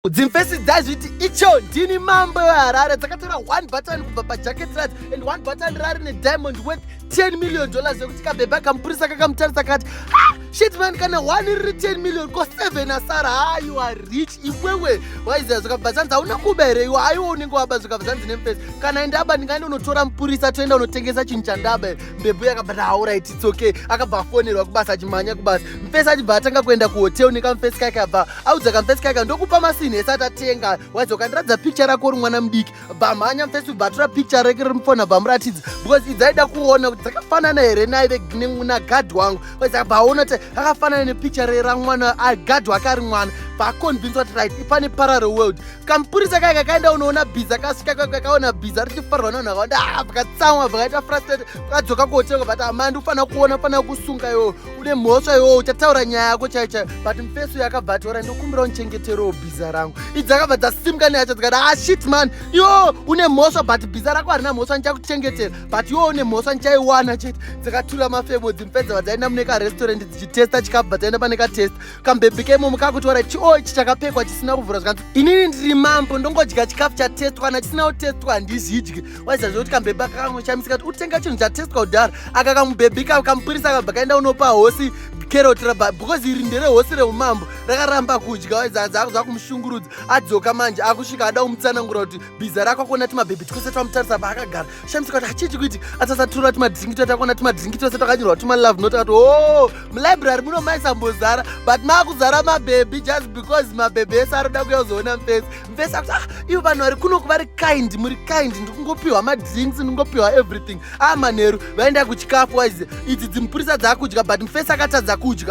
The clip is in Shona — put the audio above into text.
dzimfesi dzazviti icho ndini mambo weharare dzakatora one button kubva pajacket radzo and one button rari nediamond worth 10 million dollars yekuti kabhebha kamupurisa kakamutarisa kati ah, shitman kana one riri 10 million ko 7 asara ha ah, you are rich iwewe waiziva zvakabva zvanzi hauna kuba here iwe aiwe unenge waba zvakabva zvanzi nemfesi kana ndaba ndingaenda unotora mupurisa toenda unotengesa chinhu chandaba here mbebhu yakabva taauraiti it's okay akabva afonerwa kubasa achimhanya kubasa mfesi achibva atanga kuenda kuhotel nekamfesi kake abva audza kamfesi kaika ndokupa masinhi ese atatenga waiza ukandiratidza picture rako uri mwana mudiki bamhanya mfesi ubatura picture rake riri mufona bamuratidza because idzaida kuona kuti dzakafanana here naive nagadhi wangu waiza baona kuti akafanana nepicture ramwana gadhi wake ari mwana vaconvince kuti right ipane parallel world kamupurisa kaika kaenda unoona bhiza kasvika kakaona bhiza richifarwa nonhu akawanda ah, vakatsamwa vakaita frustrated vakadzoka kotenga but amandi ufanira kuona ufanira kusunga iwoyo une mhosva iwowo uchataura nyaya yako chai chai but mfeso yakabva atora ndokumbira unichengeterewo bhiza rangu idzi akabva dzasimuka neyacho dzikati ah shit man iwo une mhosva but bhiza rako harina mhosva ndichakuchengetera but iwo une mhosva ndichaiwana chete dzakatura mafemo dzimfedza vadzaenda mune karestaurant dzichitesta chikabva dzaenda pane katesta kambebhi keimomo kakutora chio ichi chakapekwa chisina kuvhura zvikanzi inini ndiri mambo ndongodya chikafu chatestwa kana chisina kutestwa handizvidyi waiziva zvekuti kambhebhi akakamoshamisa kati utenga chinhu chatestwa kudhara aka kamubhebhi ka kamupurisa kabva kaenda unopa hosi keroti raba because iri ndere hosi reumambo rakaramba kudya waiziva zvakuda kumushungurudza adzoka manje akusvika ada kumutsanangura kuti bhiza rako akuona timabhebhi twese twamutarisa paakagara shamisa kati hachiti kuiti atasatura timadhiringi twese takuona timadhiringi twese twakanyorwa tumalove not ati o oh, mulibrary muno maisambozara but maakuzara mabhebhi just because mabhebhi ese aroda kuya kuzoona mufesi mvese akuti ah ivo vanhu vari kunoku vari kind muri kind ndikungopiwa madrinks ndingopiwa everything ah manheru vaenda kuchikafu waize idzi dzimupurisa dzaakudya but mfesi akatadza kudya